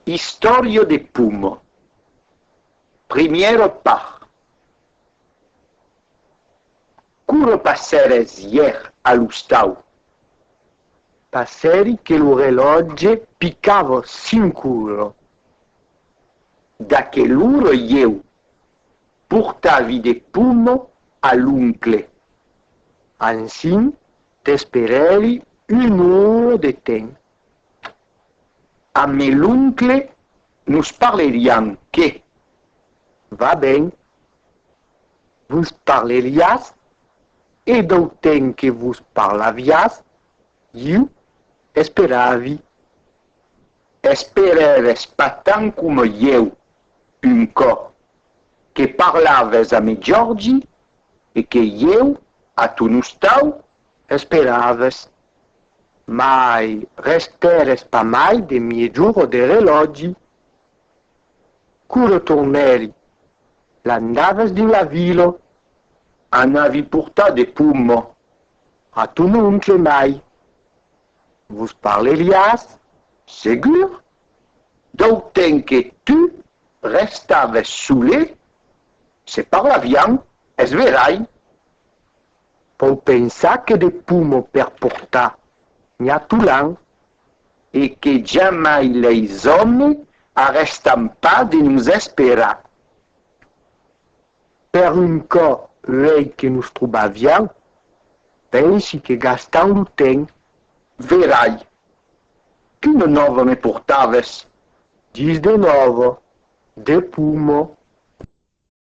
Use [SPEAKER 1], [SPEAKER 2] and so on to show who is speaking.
[SPEAKER 1] Istòria de Pomo, primièra part. Quora passères ièr a l'ostau? Passèri que lo relòtge picava cinc ora. D'aquel'ora ieu portavi de pomo a l'oncle. Ansin t'esperèri un'ora de temps. A me l'oncle nos parleriam que. Va ben, vos parleriás, e dau temps que vos parlaviás, iu esperavi. Esperaves pas tant coma ieu, un còp que parlaves a me Jordi e que ieu, a ton ostau, Esperaves, mai restères pas mai de miejor de relògi. Quora tornèri, l'andaves dins la vila. Anavi portar de pomma a ton oncle mai. Vos parleriás, segur, dau temps que tu restaves sole, se parlavián, es verai. Pòu pensar que de pomo per portar Nha Tulan e que jamai leis òme arrèstan pas de nos esperar. Per un cò uèi que nos trobavián, pensi que gastant lo temps, verai. Quina nòva me portaves? Dis de nòva, de pomo.